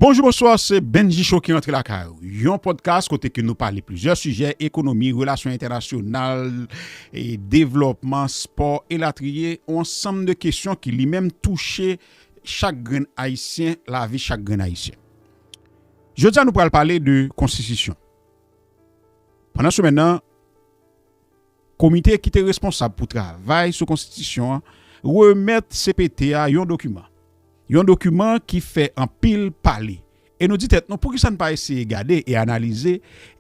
Bonjou bonswa se Bennji Cho ki rantre lakay ou Yon podcast kote ke nou pale plizyè sijè ekonomi, relasyon entènasyonal, devlòpman, spò elatriye ou ansanm de kesyon ki li menm touche chak grenn ayisyen, lavi chak grenn ayisyen Jodi a nou pral pale de konstitisyon Pandan semèn nan. Komite ki te responsab pou travay sou konstitisyon an remèt cpt a yon dokiman. Yon dokiman ki fè anpil pale. E nou di tèt nou poukisa n pa eseye gade e analize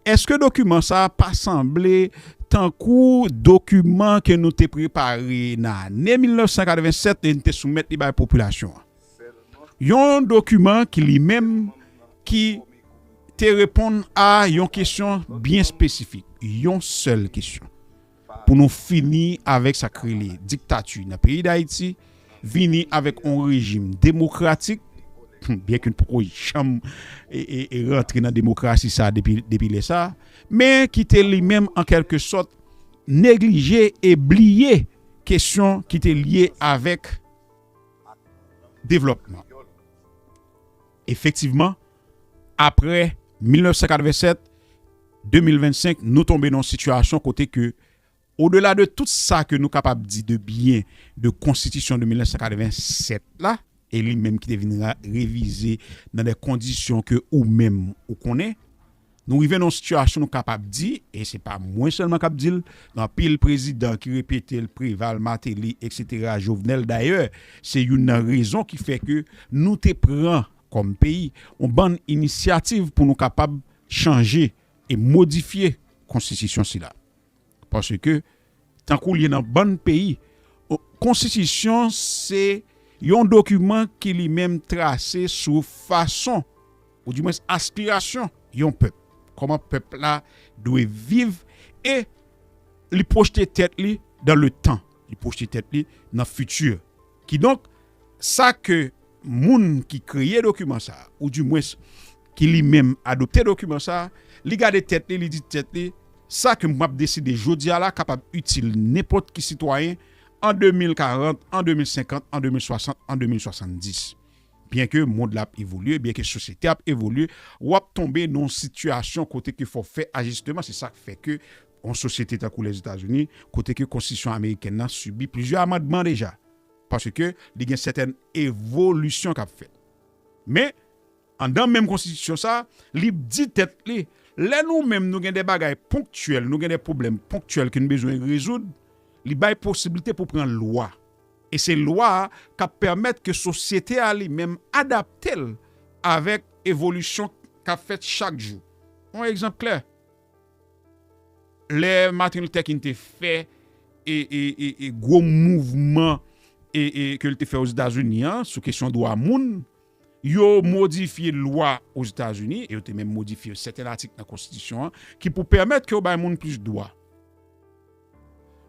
èske dokiman sa a pa sanble tankou dokiman ke nou te prepare nan ane 1987 e n te soumèt li bay popilasyon an. Yon dokiman ki li menm ki te reponn a yon kesyon byen espesifik, yon sèl kesyon, pou nou fini avèk sa k rele diktati nan peyi Dayiti, vini avèk yon rejim demokratik, byen ke n poko janm rantre nan demokrasi sa depi lè sa, men ki te li menm an kèlke sòt neglije e bliye kesyon ki te lye avèk. ak devlòpman. Efektivman, aprè 1987, 2025 nou tonbe nan yon sitiyasyon kote ke odela de tout sa ke nou kapab di de byen de konstitisyon de 1987 la, e li menm ki te vin revize nan de kondisyon ke ou menm ou konnen, Nou rive nan yon sitiyasyon nou kapab di, e se pa mwen sèlman k ap di l, gen anpil prezidan ki repete l, Preval, Mateli, eksetera, Jovenel dayè, se youn nan rezon ki fè ke nou te pran kòm peyi yon bann inisyativ pou nou kapab chanje e modifye konstitisyon sila. Paske, tankou li ye nan bann peyi, konstitisyon se yon dokiman ki li menm trase sou fason, ou di mwens aspirasyon yon pèp. Kòman pèp la dwe viv e li pwojte tèt li dan le tan. Li pwojte tèt li nan fiti. Kidonk, sa ke moun ki kreye dokiman sa a, ou dimwens, ki li menm adopte dokiman sa a, li gade tèt li, li di tèt li, sa ke m ap deside jodi a la kapab itil nenpòt ki sitwayen an 2040, an 2050, an 2060, an 2070. Byenke mond la ap evolye, byenke sosyete a ap evolye, w ap tonbe nan yon sitiyasyon kote ke fò w fè ajisteman. Se sa k fè ke Yon sosyete tankou Lèzetazini, kote ke konstitisyon amerikèn nan sibi plizyè amandman deja, paske li gen sètèn evolisyon k ap fèt. Men, anndan menm konstitisyon sa, li di tèt li, lè nou menm nou gen de bagay ponktyèl, nou gen de pwoblèm ponktyèl ke nou bezwen rezoud, li bay posiblite pou pran lwa. E se lwa a k ap pèmèt ke sosyete a li menm adapte l avèk evolisyon k ap fèt chak jou. Yon egzanp klè. Lè Martin Luther King te fè gwo mouvman ke li te fè Ozetazini an sou kesyon dwa moun, yo modifye lwa Ozetazini e yo te menm modifye sèten atik nan konstitisyon an ki pou pèmèt ke yo bay moun plis dwa.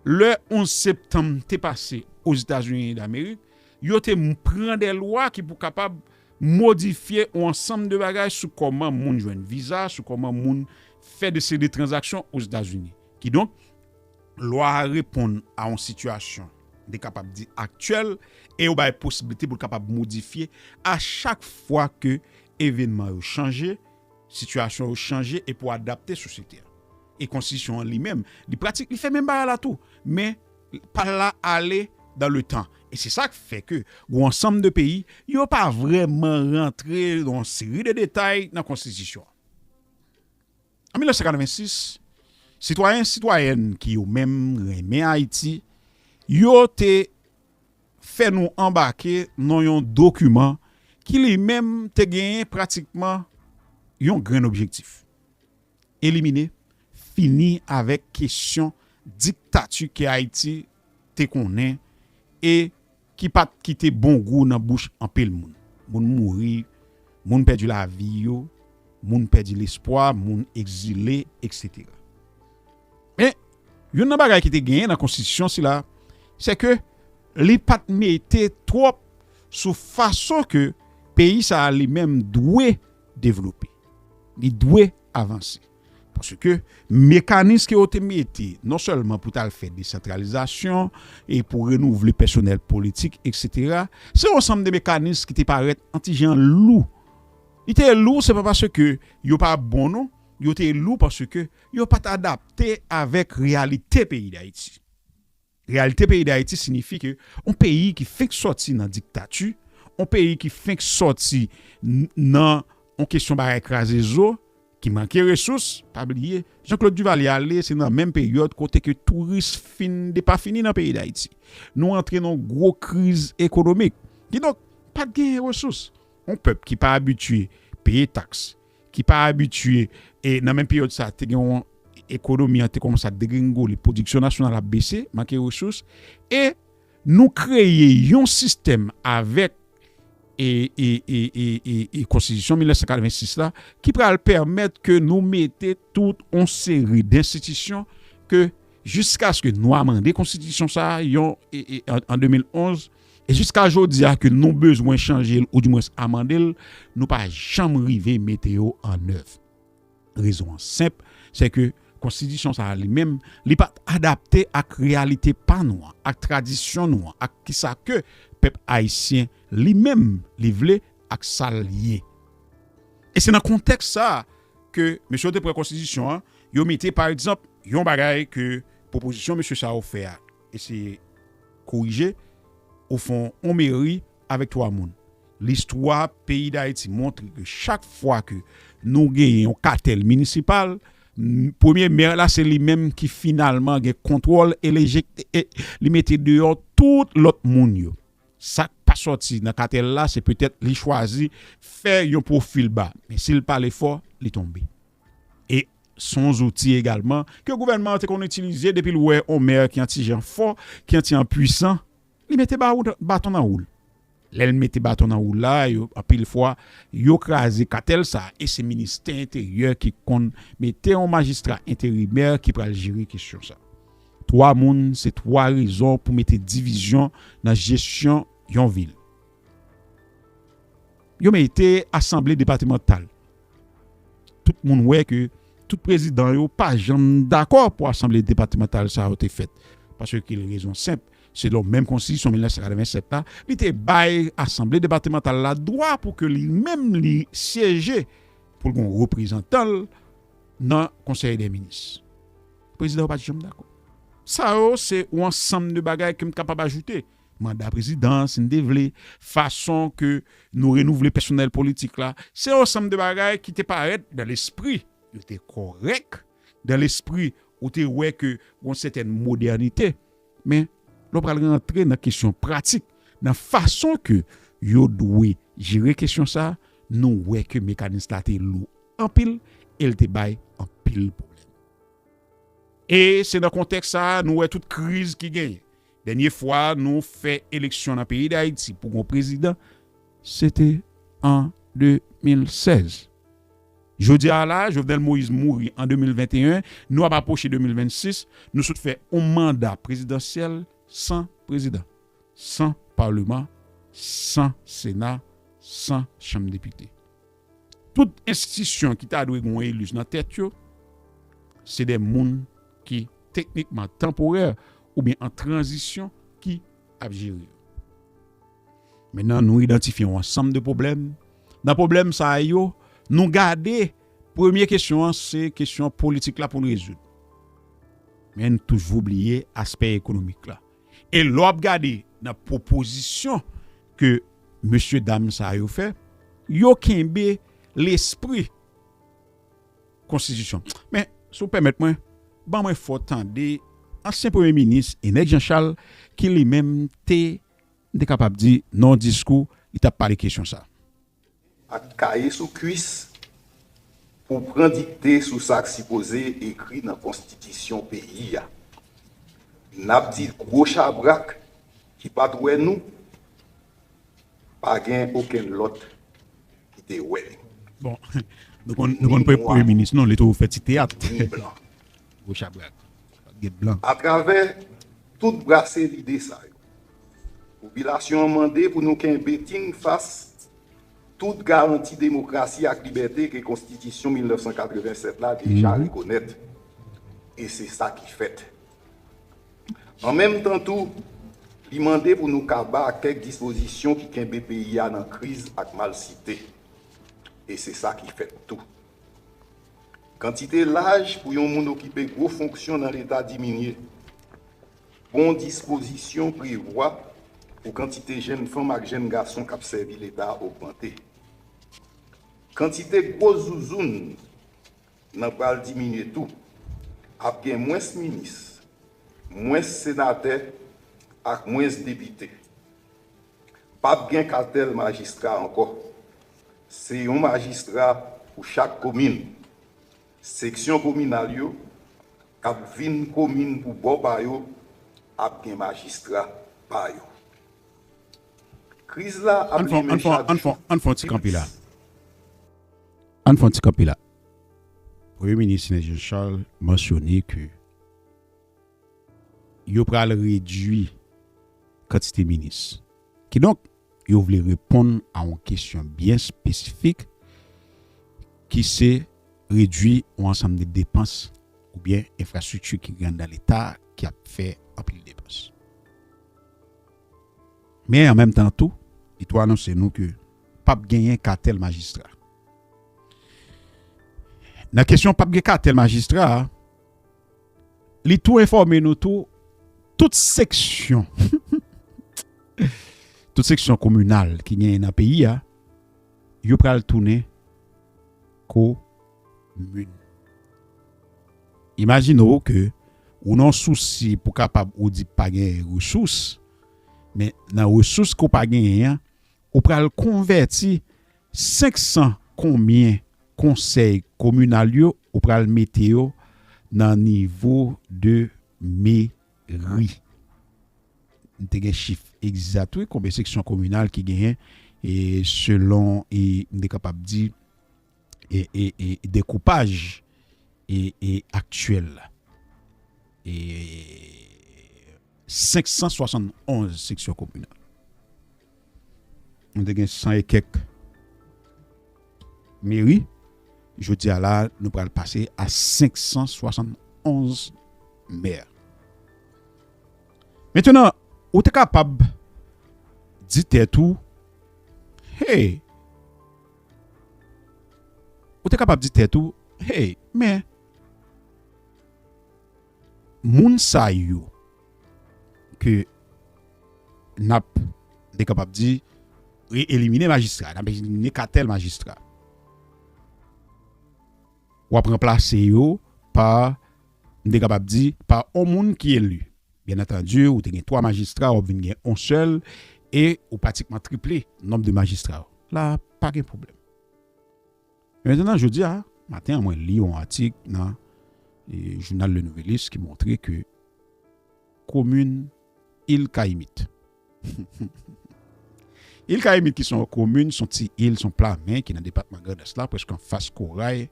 Lè 11 septanm te pase Ozetazini Damerik, yo te pran de lwa ki pou kapab modifye yon ansanm de bagay sou kòman moun jwenn viza, sou kòman moun fè de seri de tranzaksyon Ozetazini. Kidonk, lwa a reponn a yon sitiyasyon, m te kapab di aktyèl, e yo bay posiblite pou l kapab modifye a chak fwa ke evènman yo chanje, sitiyasyon yo chanje e pou adapte sosyete a. E konstitisyon an li menm, li pratik, li fè menm bagay la tou, men pa l la ale dan le tan. E se sa k fè ke gou ansanm de peyi, yo pa vrèman rantre dan yon seri de detay nan konstitisyon an. An 1986, sitwayen, sitwayèn ki yo menm renmen Ayiti, yo te fè nou anbake nan yon dokiman ki li menm te genyen pratikman yon grenn objektif. Elimine, fini avèk kesyon diktati ke Ayiti te konnen e ki pa t kite bon gou nan bouch anpil moun. Moun mouri, moun pèdi lavi yo, moun pèdi lespwa, moun egzile, eksetera. Men, youn nan bagay ki te genyen nan konstitisyon sila, se ke li pa t mete twòp sou fason ke peyi sa a li menm dwe devlope. Li dwe avanse. Paske mekanis ke yo te mete non sèlman pou t'al fè desantralizasyon e pou renouvle pèsonèl politik eksetera, se yon sanm de mekanis ki te parèt an ti jan lou. Li te lou se pa paske yo pa bon non, yo te lou paske yo pat adapte avèk reyalite peyi Dayiti. Reyalite peyi Dayiti sinifi ke yon peyi ki fenk sòti nan diktati, yon peyi ki fenk sòti nan yon kesyon bagay kraze zo, ki manke resous, pa bliye, Jean-Claude Duvalier ale, se nan menm peryòd kote ke touris fin depafini nan peyi Dayiti. Nou antre nan yon gwo kriz ekonomik. Kidonk, pa t gen resous. Yon pèp ki pa abitye peye taks, ki pa abitye e nan menm peryòd sa te gen yon ekonomi an te kòmanse ap degrenngole, pwodiksyon nasyonal ap bese, manke resous e nou kreye yon sistèm avèk e konstitisyon 1986 la ki pral pèmèt ke nou mete tout yon seri denstitisyon ke jiskaske nwa mande konstitisyon sa a yon an 2011 E jiska jodi a ke nou bezwen chanje l ou di mwens amande l, nou pa janm rive mete yo an èv. Rezon an senp, se ke konstitisyon sa a li menm, li pa t adapte ak reyalite pa nou an, ak tradisyon nou an, ak kisa ke pèp ayisyen li menm li vle ak sa l ye. E se nan kontèks sa a ke mesye yo te pran konstitisyon an, yo mete pa egzanp yon bagay ke pwopozisyon mesye sa yo fè a, Eseye korije, ou fon on meri avèk 3 moun. Listwa peyi Dayiti montre ke chak fwa ke nou genyen on katèl minisipal, premye mè la se li menm ki finalman gen kontwòl e li mete deyò tout lòt moun yo. Sa k pa sòti nan katèl la se petèt li chwazi fè yon pwofil ba, men si l pale fò, li tonbe. E s on zouti egalman ke gouvènman an te konn itilize depi l wè on mè ki an ti jan fò, ki an ti an pwisan, li mete baton nan wou l. Lè l mete baton nan wou l la, anpil fwa, yo kraze katèl sa a e se ministè enteryè ki konn mete on majistra enterimè ki pral jere kesyon sa a. Twa moun se twa rezon pou mete divizyon nan jesyon yon vil. Yo mete asanble depatemantal. tout moun wè ke tout prezidan yo pa janm dakò pou asanble depatemantal sa yo te fèt. Paske ki l rezon senp, selon menm konstitisyon 1987 la, li te bay asanble depatemantal la dwa pou ke li menm li syeje pou l gon reprezantan l nan konsèy dè minis. Prezidan yo pa t janm dakò. Sa yo se yon ansanm de bagay ke m kapab ajoute. Manda prezidan, si n te vle, fason ke nou renouvle pèsonèl politik la, se yon sanm de bagay ki te parèt dan lespri, yo te kòrèk, dan lespri ou te wè ke yon sètèn modènite. Men, lè w pral rantre nan kesyon pratik, nan fason ke yo dwe jere kesyon sa, nou wè ke mekanis la te lou anpil e l te bay anpil pwoblèm. E se nan kontèks sa a nou wè tout kriz ki genyen. Dènye fwa nou fè eleksyon nan peyi Dayiti pou gon prezidan, se te an 2016. Jodi a la, Jovenel Moïse mouri an 2021, nou ap apwoche 2026, nou sot fè yon manda prezidansyèl san prezidan, san Paleman, san Sena, san Chanm Depite. Tout enstitisyon ki ta dwe gen yon elijs nan tèt yo, se de moun ki teknikman tanporè oubyen an tranzisyon ki ap jere yo. Mennan nou idantifye yon ansanm de pwoblèm, nan pwoblèm sa yo nou gade premye kesyon an se kesyon politik la pou n rezoud. Men nou toujou bliye aspè ekonomik la. E lè w ap gade nan pwopozisyon ke mesye dam sa yo fè, yo kenbe lespri konstitisyon. Men, si w pèmèt mwen, ban mwen fè w tande ansyen premye minis Enex Jean Charles ki li menm te, m te kapab di nan yon diskou, li t ap pale kesyon sa. Ak kaye sou kwis pou pran dikte sou sa k sipoze ekri nan konstitisyon peyi a. N ap di gwo chabrak ki pa t wè nou, pa gen okenn lòt ki te wè nou. Bon, nou konn pwè Premye Minis nou, li toujou fè ti teyat. Gwo chabrak. Pa t gen blan. Atravè tout brase lide sa yo, popilasyon an mande pou nou kenbe tinn fas tout garanti demokrasi ak libète ke Konstitisyon 1987 la deja rekonèt. E se sa ki fèt. An menm tan tou, li mande pou nou kaba ak kèk dispozisyon ki kenbe peyi a nan kriz ak malsite. E se sa ki fèt tou. Kantite laj pou yon moun okipe gwo fonksyon nan Leta diminye. Bon dispozisyon prevwa pou kantite jenn fanm ak jenn gason k ap sèvi Leta ogmante. Kantite gwo zouzoun nan pral diminye tou. Ap gen mwens minis, mwens senatè ak mwens depite. Pap gen katèl majistra ankò. Se yon majistra pou chak komin. Seksyon kominal yo k ap vin komin pou bò pa yo ap gen majistra pa yo. Kriz la ap limen chak jou pi plis. Ann fè yon ti kanpe la. Premye minis Sidney Jean Charles mansyone ke Yo pral redui kantite minis. Kidonk, yo vle reponn a yon kesyon byen espesifik ki se redui yon ansanm de depans oubyen enfrastrikti ki gen anndan Leta ki ap fè anpil depans. Men, an menm tan tou, li tou anonse nou ke p ap genyen katèl majistra. Nan kesyon p ap gen katèl majistra a. Li tou enfòme nou tou tout seksyon tout seksyon kominal ki genyen nan peyi a yo pral tounen komin. Imajine w ke ou nan yon sousi pou kapab ou di pa genyen resous men nan resous ke w pa genyen an ou pral konvèti 500 konbyen konsèy kominal yo ou pral mete yo nan nivo de meri? Nou te gen chif egzat wi konbyen seksyon kominal ki genyen e selon e m te kapab di e e e dekoupaj e e aktyèl la e 571 seksyon kominal. Nou te gen san e kèk meri. Jodi a la, nou pral pase a 571 mè. Mentenan, ou te kapab di tèt ou, hey, ou te kapab di tèt ou, hey, men, Moun sa yo ke n ap, te kapab di, re-elimine majistra, n ap elimine katèl majistra. W ap ranplase yo pa, m te kapab di, pa yon moun ki eli. Byen antandi, ou te gen 3 majistra, w ap vin gen yon sèl, e ou pratikman triple nonb de majistra. La a, pa gen pwoblèm. Men antandan, jodi a maten an mwen li yon atik nan jounal Le Nouvelliste ki montre ke komin Il Kayimit, Il Kayimit ki se yon komin, se yon ti il, se yon plamen ki nan depatman Grandans la, prèske anfas Koray,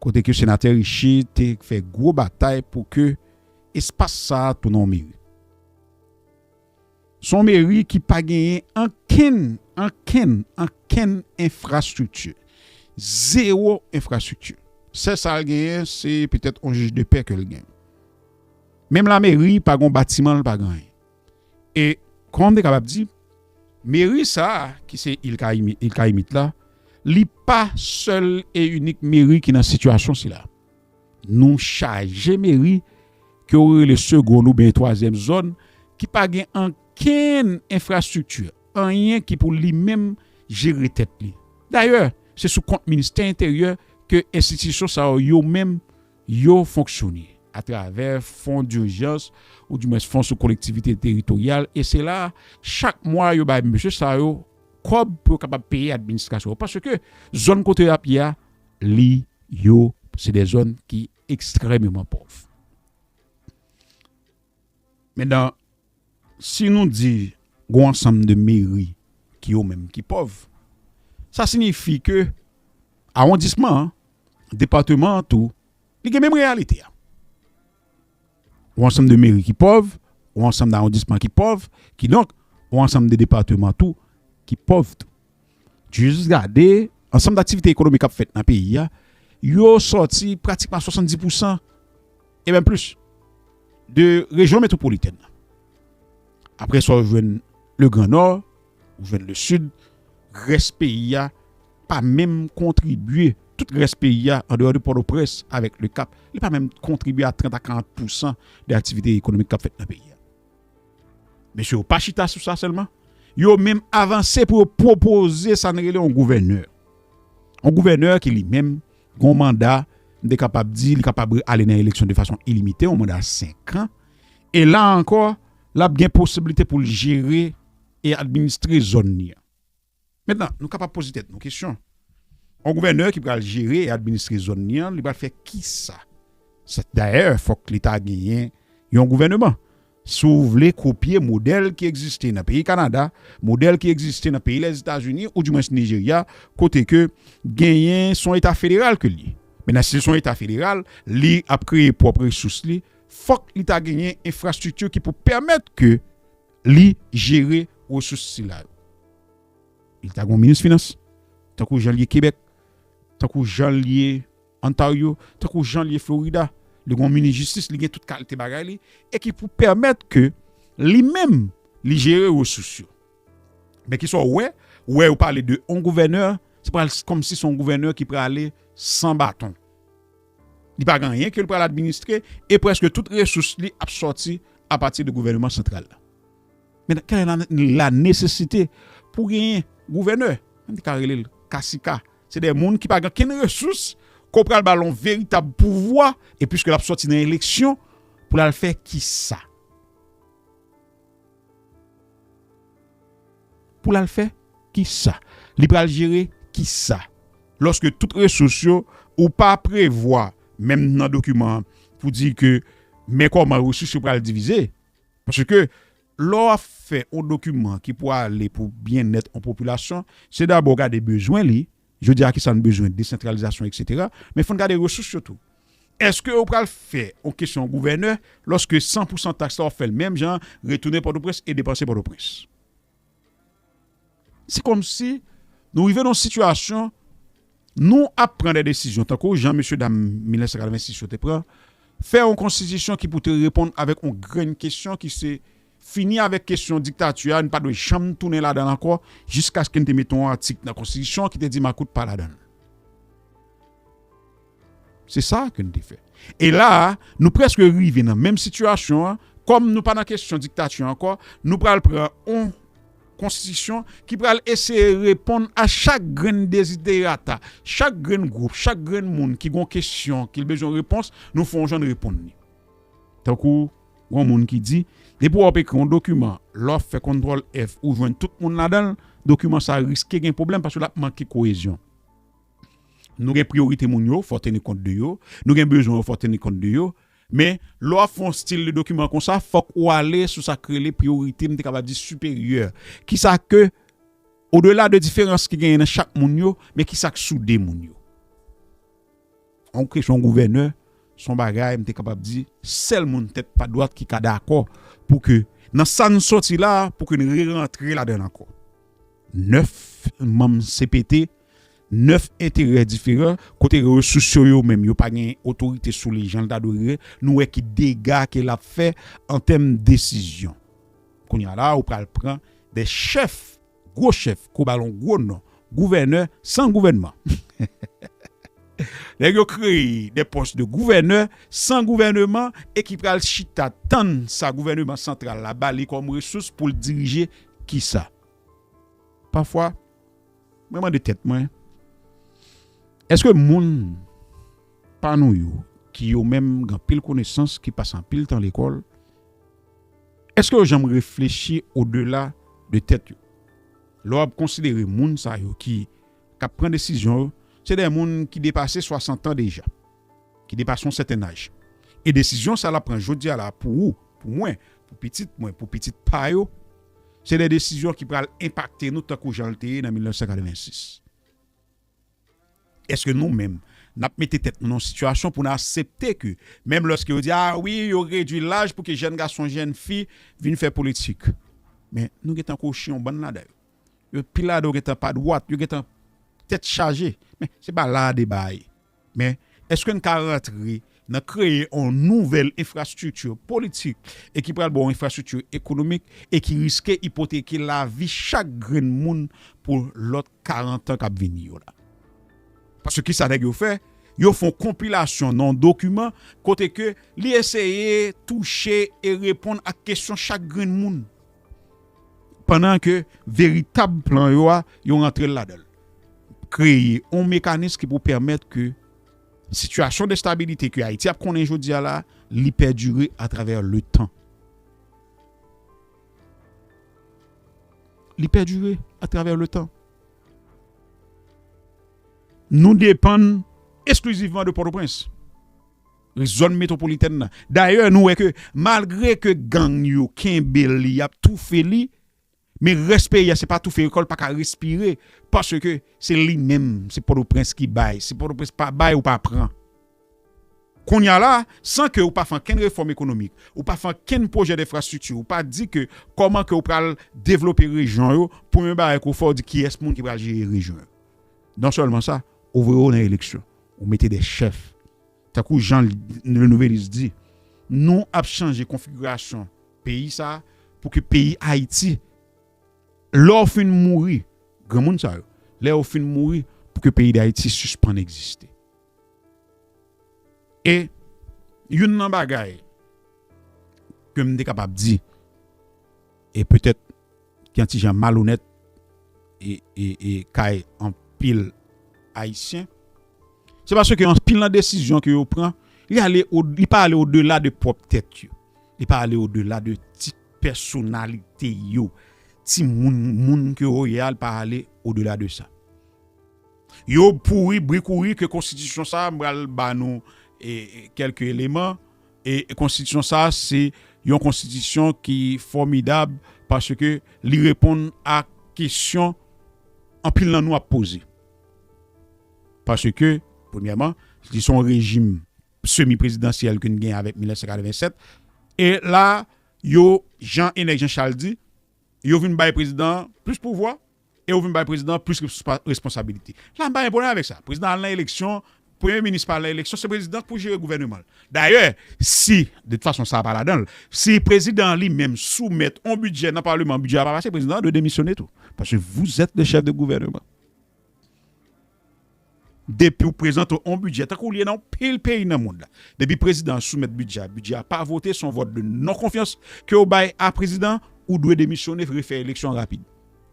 kote ke Senatè Riché te fè gwo batay pou ke espas sa a tounen yon meri. S on meri ki pa genyen ankenn, ankenn, ankenn enfrastrikti. Zewo enfrastrikti. Sèl sa l genyen se petèt on jij de pè ke l gen. Menm lameri pa gen on batiman l pa gen anyen. E kòman m te kapab di, meri sa a ki se Il Kayimi, Île Cayimite la, li pa sèl e inik meri ki nan sitiyasyon sila. Nou chaje meri ke ou rele segonn ou byen twazyèm zòn ki pa gen ankenn enfrastrikti, anyen ki pou li menm jere tèt li. Dayè, se sou kont Ministè Enteryè ke enstitisyon sa yo yo menm yo fonksyone, atravè fon dirjans ou di mwens fon sou kolektivite teritoryal e se la chak mwa yo bay mesye sa yo kòb pou yo kapab peye administrasyon yo paske zòn kote yo ap ye a Li yo se de zòn ki ekstrèmeman pòv. Medan, si nou di g'on ansanm de meri ki yo menm ki pòv, sa sinifi ke awondisman an, departeman an tou, li gen menm reyalite a. Yon ansanm de meri ki pòv, yon ansanm dawondisman ki pòv, kidonk, yon ansanm de depatman tou ki pòv tou. Jis gade ansanm daktivite ekonomik k ap fèt nan peyi a, yo sòti pratikman a 70 pousan, e menm plis, de rejyon metwopolitèn nan. Apre sa ou jwenn le gran Nò, ou jwenn le Sid, rès peyi a pa menm kontribye tout rès peyi a andeyò de Pòtoprens avèk Le Cap, li pa menm kontribye a 30 a 40 pousan de aktivite ekonomik k ap fèt nan peyi a. Mesye yo pa chita sou sa sèlman, yo menm avanse pou yo pwopoze sa n rele yon gouvènè. Yon gouvènè ki li menm gen yon manda, m te kapab di li kapab ale nan eleksyon de fason ilimite, yon manda 5 an, e la ankò l ap gen posiblite pou l jere e administre zòn li an. Mentnan, nou kapab poze tèt nou kesyon, yon gouvènè ki pral jere e administre zòn li an, li pral fè kisa? Dayè, fòk Leta genyen yon gouvèneman. Si w vle kopye modèl ki egziste nan peyi Kanada, modèl ki egziste nan peyi Lèzetazini ou dimwens Nijerya, kote ke genyen se yon Eta federal ke l ye. Mentnan, si se yon Eta federal, li ap kreye pwòp resous li, fòk li ta genyen enfrastrikti ki pou pèmèt ke. Li jere resous sila yo. Li ta gen yon minis finans, tankou jan li ye Kebèk, tankou jan li ye Ontario, tankou jan li ye Florida. Li gen yon minis jistis, li gen tout kalte bagay li, e ki pou pèmèt ke li menm li jere resous yo. Men ki sa w wè, ou wè yo pale de yon gouvènè, se pral kòmsi se yon gouvènè ki prale san baton. Li pa gen anyen ke l pral administre e prèske tout resous li ap sòti apati de gouvèneman santral la. Men, kèlè la nesesite pou genyen gouvènè? Mwen te ka rele l kasika. Se de moun ki pa gen okenn resous ke w pral ba l yon veritab pouvwa e piske l ap sòti nan eleksyon pou l al fè kisa? Pou l al fè ki sa? Li pral jere ki sa? Lòske tout resous yo, ou pa prevwa menm nan dokiman an pou di ke men kòman resous yo pral divize. Paske lè w ap fè yon dokiman ki pou ale pou byennèt yon popilasyon, se dabò gade bezwen li, Jodi a kisa n bezwen, desantralizasyon eksetera, men fò n gade resous yo tou. Eske ou pral fè yon kesyon gouvènè lòske san pou san taks la w ap fè l menm jan, retounen Pòtoprens e depanse Pòtoprens? Se kòmsi nou rive nan yon sitiyasyon nou ap pran dè desizyon tankou jan mesye dam 1986 yo te pran, fè yon konstitisyon ki pou te reponn avèk yon grenn kesyon ki se Fini avèk kesyon diktati a, n pa dwe janm tounen ladan l ankò, jiskaske n te mete yon atik nan konstitisyon an ki te di makout pa ladan l. Se sa ke n te fè. E la a, nou prèske rive nan menm sitiyasyon an, kòm nou pa nan kesyon diktati ankò, nou pral pran yon konstitisyon ki pral eseye reponn a chak grenn deziderata, chak grenn gwoup, chak grenn moun ki gen yon kesyon ke l bezwen repons, nou fè yon jan n reponn li. Tankou. Gon moun ki di, depi wap ekri yon dokiman, lè wap fè kontrol F ou jwenn tout moun ladanl, dokiman sa riske gen pwoblèm paske lap manke koyezyon. Nou gen priyorite moun yo, fò teni kont de yo, nou gen bezwen yo fò teni kont de yo, men lè wap fè yon stil de dokiman konsa fòk ou ale sou sak rele priyorite m te kapab di siperyè, kisa ke odela de diferans ki genyen nan chak moun yo, men kisak soude moun yo. On kesyon gouvènè, s on bagay m te kapab di, sèl moun tèt pa dwat ki ka dakò pou ke nan sa n sòti la a, pou ke n rerantre ladan l ankò. Nèf manm cpt, nèf enterè diferan, kote resous yo yo menm yo pa gen otorite sou li jan l ta dwe ye, nou wè ki dega ke l ap fè an tèm desizyon. Kounye a la a ou pral pran de chèf. Gwo chèf kou balon gwo non gouvènè san gouvènman Nèg yo kreye de pòs de gouvènè san gouvèneman e ki pral chita tann sa gouvèneman santral la ba li kòm resous pou l dirije kisa Pafwa mwen mande tèt mwen èske moun pa nou yo ki yo menm gen anpil konesans ki pase anpil tan lekòl Èske yo janm reflechi odela de tèt yo? Lè w ap konsidere moun sa yo ki k ap pran desizyon yo, se de moun ki depase swasantan deja, ki depase yon sèten aj. E desizyon sa l ap pran jodi a la pou ou, pou mwen, pou pitit mwen, pou pitit pa yo, se de desizyon ki pral enpakte nou tankou jan l te ye nan 1986. Eske nou menm, n ap mete tèt nou nan yon sitiyasyon pou n asepte ke menm lòske yo di, a wi, yo redui laj pou ke jèn gason, jèn fi vin fè politik. Men, nou gen tan kwochi yon bann ladan yo. Yo, pil ladan yo gen tan pa dwat, yo gen tan tèt chaje. Men, se pa la a deba a ye. Men, èske n ka rantre nan kreye yon nouvèl enfrastrikti politik e ki pral ba w enfrastrikti ekonomik e ki riske ipoteke lavi chak grenn moun pou lòt karantan k ap vini yo la? Paske ki sa nèg yo fè? Yo fè yon konpilasyon nan yon dokiman kote ke li eseye touche e reponn ak kesyon chak grenn moun. pandan ke veritab plan yo a, yo rantre l ladan l. Kreye yon mekanis ki pou pèmèt ke sitiyasyon destabilite ke Ayiti ap konnen jodi a la, li pèdire atravè le tan. Li pèdire atravè le tan. Nou depann esklizivman de Pòtoprens. zòn metwopolitèn nan. Dayè nou wè ke malgre ke gang yo kenbe li yap toufe li men rès peyi a se pa toufe kòl paka respire paske se li menm se pòtoprens ki bay si pòtoprens pa bay ou pa pran kounya la san ke ou pa fè ankenn refòm ekonomik ou pa fè ankenn pwojè denfrastrikti ou pa di ke kòman ke ou pral devlope rejyon yo premye bagay ke ou fè ou di kiyès moun ki pral jere rejyon yo non sèlman sa ou voye yo nan eleksyon ou mete de chèf Tankou jan Le Nouvelliste di, nou ap chanje konfigirasyon peyi sa a pou ke peyi Ayiti, lè w fin mouri, granmoun sa yo, lè yo fin mouri, pou ke peyi Dayiti sispann egziste. E youn nan bagay ke m te kapab di. E petèt ki yon ti jan malonèt e kay anpil Ayisyen. Se paske anpil nan desizyon ke yo pran, li pa ale odela de pwòp tèt yo. Li pa ale odela de ti pèsonalite yo. Ti moun, moun ke yo ye a, li pa ale odela de sa. Yo pouri, brikouri ke konstitisyon sa, m pral ba nou kelke eleman. E konstitisyon sa a se yon konstitisyon ki fòmidab paske li reponn a kesyon anpil nan nou ap poze. Paske, premyèman, li se yon rejim semi prezidansyèl ke n gen avèk 1987. E la, yo, jan Enèk Jan Chal di, yo vin bay prezidan an plis pouvwa, E ou vin bay prezidan an plis responsabilite. La m pa gen pwoblèm avèk sa. Prezidan al nan eleksyon, premye minis pa al nan eleksyon, se prezidan k pou jere gouvèneman l. Dayè, si, de tout fason sa pa ladan l, si prezidan an li menm soumèt on bidjè nan paleman, bidjè a pa pase, prezidan an dwe demisyone tou. Paske vouzèt le chèf de gouvèneman. Depi w prezante on bidjè, tankou li ye nan yon pil peyi nan mond la, depi prezidan an soumèt bidjè a, bidjè a pa vote, se yon vòt de non konfyans ke w bay a prezidan an, ou dwe demisyone, refè eleksyon rapid.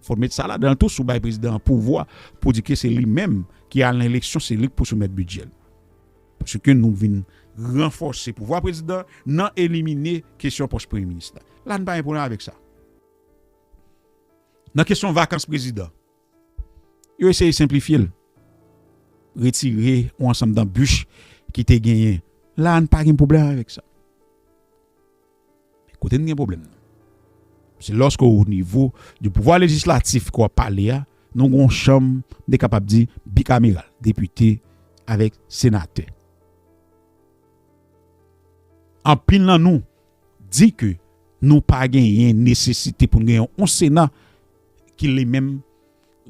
Fò w met sa ladan l tou, si w bay prezidan an pouvwa pou di ke se li menm ki al nan eleksyon, se li k pou soumèt bidjè l. Paske nou vin ranfòse pouvwa prezidan nan elimine kesyon pòs premye minis la. La n pa gen pwoblèm avèk sa. Nan kesyon vakans prezidan. Yo eseye senplifye l, retire yon ansanm danbich ki te genyen. La a n pa gen pwoblèm avèk sa. Men kote n gen pwoblèm nan, se lòske o nivo di pouvwa lejislatif ke w ap pale a, nou gen yon chanm, m te kapab di bikameral, depite avèk senatè. Anpil nan nou. Di ke nou pa genyen nesesite pou n gen yon Sena ki li menm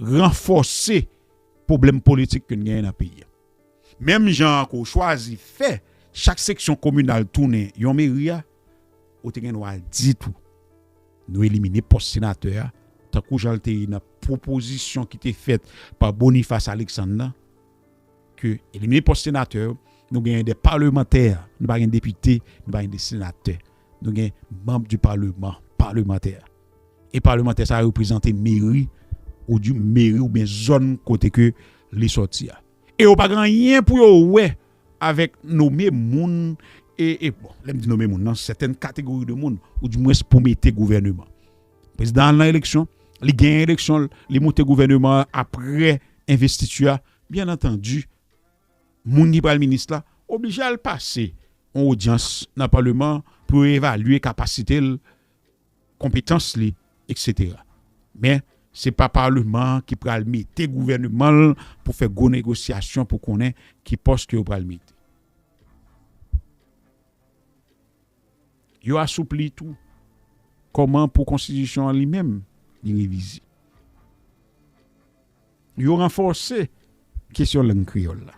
ranfòse pwoblèm politik ke n genyen nan peyi a. Menm jan an ke w chwazi fè chak seksyon kominal tounen yon meri a, ou te gen dwa di tou nou elimine pòs senatè a tankou jan l te ye nan pwopozisyon ki te fèt pa Boniface Alexandre nan, ke elimine pòs senatè yo, nou genyen de palemantè, nou pa gen depite, nou pa gen de senatè. Nou gen manb di paleman, palemantè. E palemantè sa reprezante meri ou di meri ou ben zòn kote ke li sòti a. E yo pa gen anyen pou yo wè avèk nome moun e bon, lèm di nome moun nan sèten kategori de moun ou di mwens pou mete gouvèneman. Prezidan al nan eleksyon, li genyen eleksyon l, li moute gouvèneman an apre envestiti a, byen antandi moun ki pral minis la oblije al pase yon odyans nan palman an pou yo evalye kapasite l, konpetans li eksetera. Men, se pa palman an ki pral mete gouvèneman l pou fè gwo negosyasyon pou konnen ki pòs ke yo pral mete. Yo asoupli tou kòman pou konstitisyon an li menm li revize. Yo ranfòse kesyon lang kreyòl la.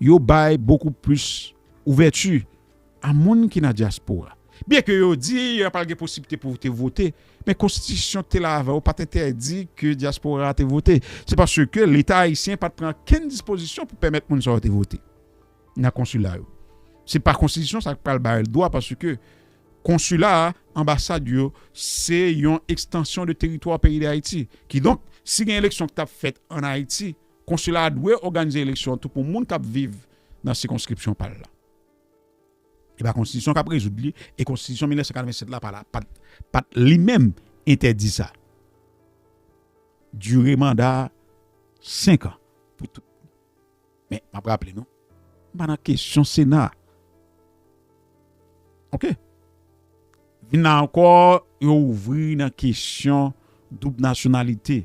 Yo bay bokou plis ouvèti a moun ki nan dyaspora. Byenke yo di yo pral gen posibite pou te vote, men konstitisyon ki te la avan yo pa t entèdi ke dyaspora a te vote. Se paske Leta ayisyen pa t pran okenn dispozisyon pou pèmèt moun sa yo te vote. nan konsila yo. Se pa konstitisyon sa ki pral ba yo dwa paske konsila, anbasad yo se yon ekstansyon de teritwa peyi Dayiti. Kidonk, si gen eleksyon ki t ap fèt ann Ayiti, konsila a dwe òganize eleksyon an tou pou moun k ap viv nan sikonskripsyon pa l la. E pa konstitisyon k ap rezoud li e konstitisyon 1987 la pa la pa pa t li menm entèdi sa. Dire manda senk an pou tout. Men, m ap raple nou, m pa nan kesyon Sena a. Ok. Vin la ankò, yo ouvri nan kesyon doub nasyonalite.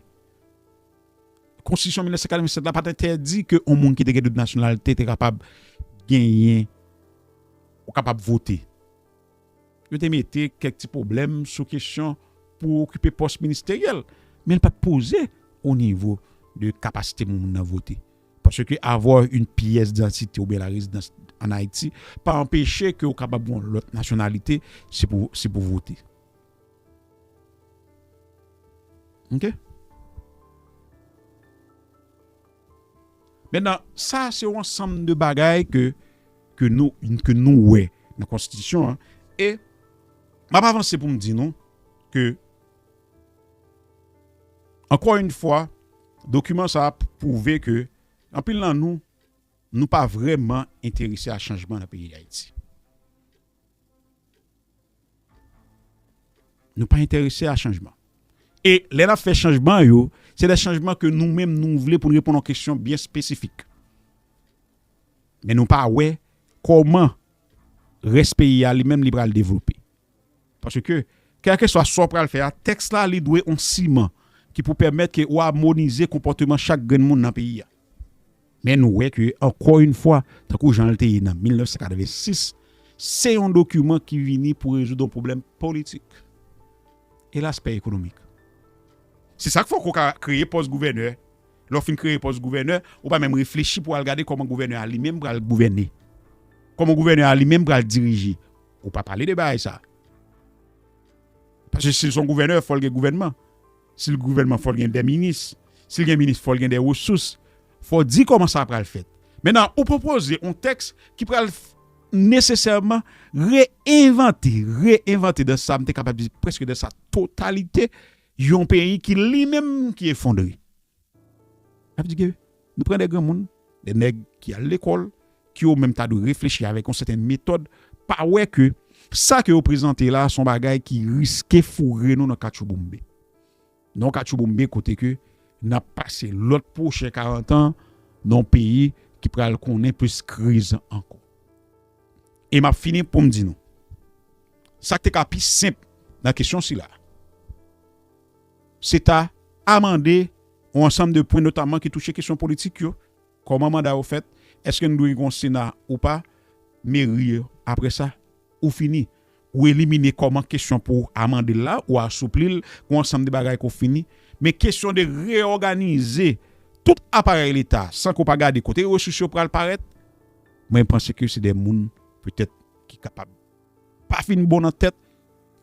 Konstitisyon 1987 la pa t entèdi ke yon moun ki te gen doub nasyonalite te kapab genyen ou kapab vote. Yo te mete kèk ti pwoblèm sou kesyon pou okipe pòs ministeryèl, men l pa t poze o nivo de kapasite moun nan vote. Paske avwa yn pyès dantite oubyen la rezidans an Ayiti pa anpeche ke ou kapab gon lòt nasyonalite si pou si pou vote. Ok. Mentnan sa se yon ansanm de bagay ke ke nou ke nou wè nan konstitisyon an e map avanse poum di nou ke Ankò yn fwa, dokiman sa a pwouve ke anpil nan nou, nou pa vrèman enterese a chanjman nan peyi Dayiti. Nou pa enterese a chanjman. E lè n ap fè chanjman yo, se de chanjman ke nou menm nou vle pou n reponn yon kesyon byen espesifik. Men nou pa wè kòman rès peyi a li menm li pral devlope. Paske, kèlkeswa sa w pral fè a, tèks la li dwe on siman ki pou pèmèt ke ou amonize konpòteman chak grenn moun nan peyi a. Men nou wè ke ankò yon fwa, tankou jan l te ye nan 1986, se yon dokiman ki vini pou rezoud on pwoblèm politik. Elas pè ekonomik. Se sa k fè ou ka kreye pòs gouvènè. Lè w fin kreye pòs gouvènè, ou pa menm reflechi pou al gade kòman gouvènè a li menm pral gouvène. Kòman gouvènè a li menm pral dirije. Ou pa pale de bagay sa. Paske si l son gouvènè, fò l gen gouvènman. Si l gouvènman, fò l gen de minis. Si l gen minis, fò l gen de resous. Fò w di kòman sa pral fèt. Mennan, ou pwopoze yon tèks ki pral nesesèman re-envante, re-envante dan sa m te kapab di, preske dan sa totalite yon peyi ki li menm ki efondre. Sa vle di ke nou pran de granmoun, de nèg ki al lekòl, ki yo menm ta dwe reflechi avèk yon sèten metòd, pa wè ke sa ke yo prezante la son bagay ki riske foure nou nan katchouboumbe. Nan yon katchouboumbe kote ke nap pase lòt pwochen karantan nan yon peyi ki pral konnen plis kriz ankò. E map fini poum di nou, sak te ka pi senp nan kesyon sila. Se ta amande yon ansanm de pwen notamman ki touche kesyon politik yo, kòman manda yo fèt, èske n dwe gen yon sena ou pa, meri yo. Apre sa, ou fini. Ou elimine kòman kesyon pou amande l la, ou asoupli l, yon ansanm de bagay ke w fini. Men kesyon de reyòganize tout aparèy Leta san ke w pa gade kote resous yo pral parèt, mwen panse ke se de moun petèt ki kapab. pa fin bon nan tèt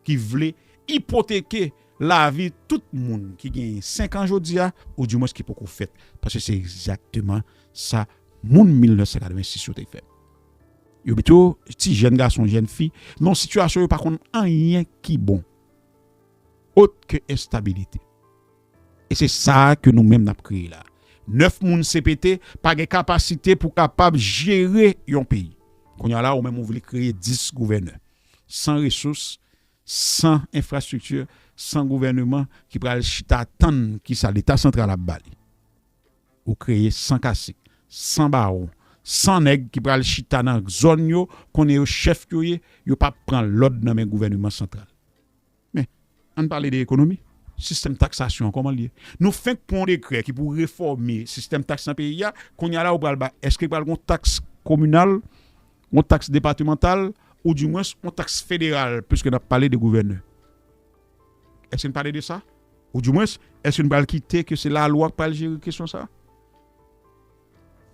ki vle ipoteke lavi tout moun ki genyen 5 an jodi a ou di mwens ki poko fèt paske se egzakteman sa moun 1986 yo te fè. Yo mete yo, ti jèn gason, jèn fi, nan yon sitiyasyon yo pa konn anyen ki bon ot ke enstabilite. E se sa ke nou menm nap kreye la. 9 moun cpt pa gen kapasite pou kapab jere yon peyi. Kounya la ou menm ou vle kreye 10 gouvènè. San resous, san enfrastrikti, san gouvèneman ki pral chita tann kisa leta santral ap ba li. Ou kreye san kasik, san bawon, san nèg ki pral chita nan zòn yo konnen yo chèf yo ye, yo pap pran lòd nan men gouvèneman santral. Men, ann pale de ekonomi. Sistèm taksasyon an kòman l ye? Nou fenk pran yon dekrè ki pou refòme sistèm taks nan peyi a, kounye a la ou pral ba èske pral gen yon taks kominal, yon taks depatemantal ou di mwens yon taks federal piske n ap pale de gouvènè? Èske n pale de sa? Ou di mwens, èske n pral kite ke se lalwa k pral jere kesyon sa a?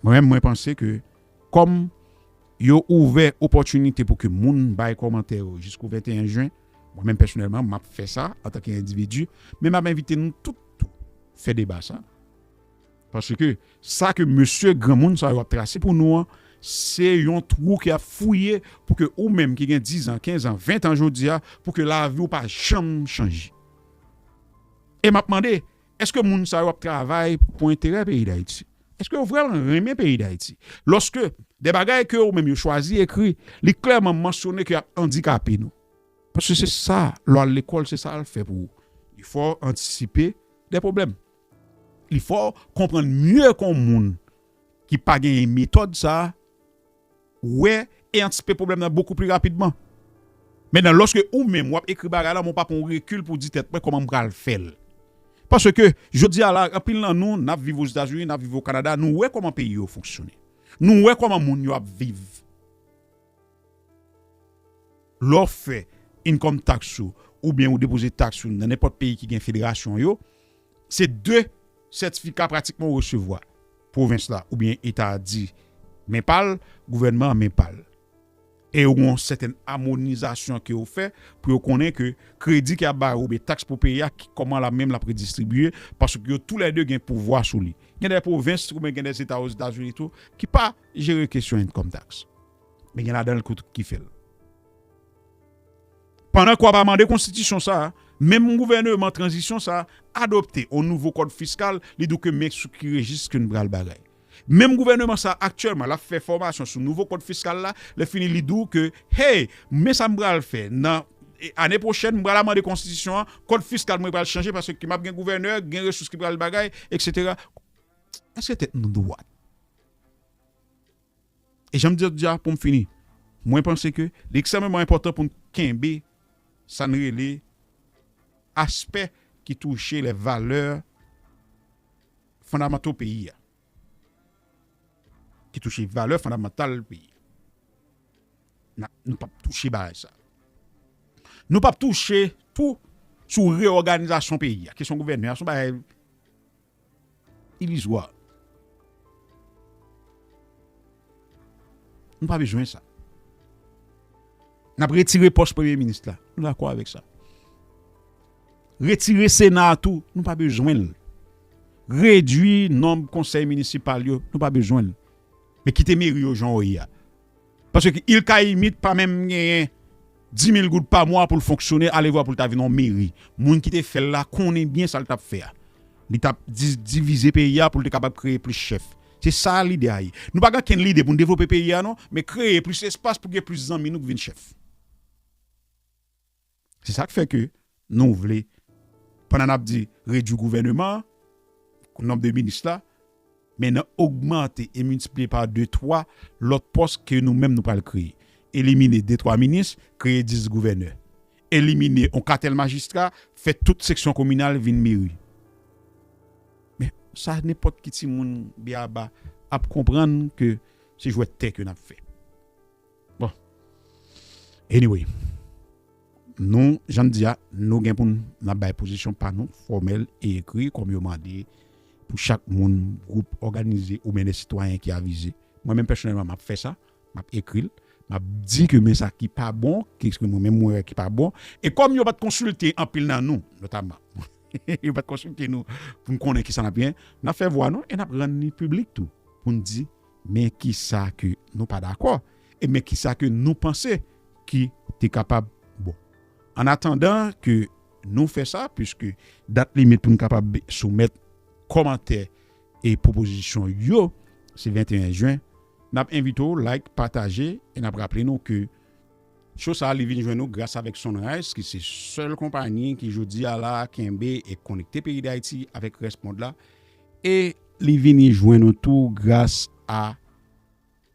Mwen menm mwen panse ke kòm yo ouvè opòtinite pou ke moun bay kòmantè yo jiskou 21 jen, mwen menm pèsonèlman m ap fè sa antanke endividi, men m ap envite nou tout tou fè deba sa. Paske sa ke mesye granmoun sa yo ap trase pou nou an, se yon twou ke y ap fouye pou ke ou menm ki gen 10 an, 15 an, 20 an jodi a, pou ke lavi ou pa janm chanje. E m ap mande, Èske moun sa yo ap travay pou enterè peyi Dayiti? Èske yo vrèman renmen peyi Dayiti? Lòske de bagay ke yo menm yo chwazi ekri, li klèman mansyone ke yap andikape nou. Paske se sa, lò al lekòl se sa al fè pou ou. Li fè w antisipe de pwoblèm. Li fè w konprann mye kon moun ki pa genyen metòd sa. wè e antispe pwoblèm nan bokou pli rapidman. Men nan lòske ou menm w ap ekri bagay la men w pa pran yon rekil pou w di tèt mwen kòman m pral fè l. Paske jodi a la anpil nan nou n ap viv Ozetazini, n ap viv Okanada nou wè kòman peyi yo fonksyone. Nou wè kòman moun yo ap viv. Lè w fè income tax ou oubyen ou depoze tax ou nan nenpòt peyi ki gen federasyon yo, Se 2 sètifika pratikman ou resevwa. Pwovens la oubyen eta a di men pa l, gouvènman an men pa l. E yo gen yon sètèn amonizasyon ke yo fè pou yo konnen ke kredi ke ap bay ou oubyen taks pou peye a ki kòman la menm l ap redistribye paske yo tou lè 2 gen pouvwa sou li. Gen dè pwovens oubyen gen dè eta ozetazini tou ki pa jere kesyon enkòm taks. Men gen ladan l ki fè l. Pandan k wap amande konstitisyon sa, menm gouvèneman tranzisyon sa adopte on nouvo kòd fiskal li di w ke men sou ki rejis ke n pral bagay. Menm gouvèneman sa aktyèlman lap fè fòmasyon sou nouvo kòd fiskal la, lè fini li di w ke hey men sa m pral fè nan ane pwochèn m pral amande konstitisyon an kòd fiskal mwen pral chanje paske ke map gen gouvènè gen resous ki pral bagay eksetera. Èske tèt nou dwat? E jan m di lòt jou a pou m fini, mwen panse ke li ekstrèmeman enpòtan pou n kenbe sa n rele aspè ki touche lè valè fondamanto peyi a, ki touche valè fondamantal peyi a. Nou pap touche bagay sa. Nou pap touche tou sou reyòganizasyon peyi a, kesyon gouvènè a, son bagay. Ilizwa. Nou pa bezwen sa. N ap retire pòs premye minis la. Nou dakò avèk sa. Retire sena a tou. Nou pa bezwen l. Redui nonb konsèy minisipal yo. Nou pa bezwen l. Men kite meri yo jan yo ye a. Paske ki il kayimit pa menm genyen dimil goud pa mwa poul fonksyone alevwa poul ta vin yon meri moun kite fèl la konnen byen sal tap fè a li tap divize peyi a poul te kapab kreye plis chèf se sa lide a ye nou pa gen okenn lide poun devlope peyi a non men kreye plis espas pou gen plis zanmi nou k vin chèf. Se sa k fè ke nou vle, pandan n ap di redui gouvèneman an, nonb de minis la, men nan ogmante e miltipliye pa de, twa lòt pòs ke nou menm nou pral kreye. Elimine de, twa minis, kreye dis gouvènè. Elimine yon katèl majistra, fè tout seksyon kominal vin meri. Men, sa nenpòt ki timoun byaba ap konprann ke se jwèt tè ke n ap fè. Bon. Anyway. Nou, jan m di a, nou gen pou n ap bay pozisyon pa nou, fòmèl e ekri, kòm yo mande pou chak moun, gwoup òganize oubyen de sitwayen ki avize. Mwen menm pèsonèlman m ap fè sa, m ap ekri l, m ap di ke men sa ki pa bon, ke se mwen menm mwen wè ki pa bon. E kòm yo pa t konsilte anpil nan nou, notamman, yo pa t konsilte nou pou n konnen ki sa n ap gen, n ap fè vwa nou e n ap rann li piblik tou pou n di Men kisa ke nou pa dakò e men kisa ke nou panse ki te kapab bon. An atandan ke nou fè sa, puiske dat limit pou nou kapab soumèt kòmantè e pwopozisyon yo se 21 jen, n ap envite w like, pataje e n ap raple nou ke show sa li vin jwenn ou gras avèk Sunrise ki se sèl konpanyi ki jodi a la kenbe e konekte peyi Dayiti avèk rès mond la. E li vini jwenn nou tou gras a,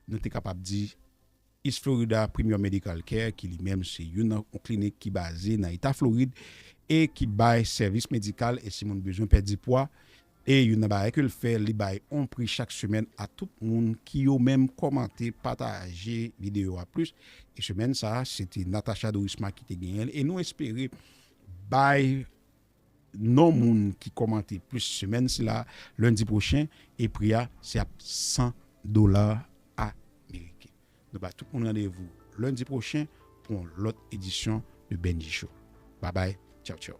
nou te kapab di, East Florida Premier Medical Care ki li menm se youn nan yon klinik ki baze nan eta Florid e ki bay sèvis medikal e si moun bezwen pèdi pwa e youn nan bagay ke l fè li bay yon pri chak semèn a tout moun ki yo menm kòmante pataje videyo a plis e semèn sa a se te Natacha Dorisma ki te genyen l e nou espere bay non moun ki kòmante plis semèn sila lendi pwochen e pri a se ap 100 dola ameriken. Nou ba tout moun randevou lendi pwochen pou yon lòt edisyon de Bendji Show. Babay, tchaw tchaw.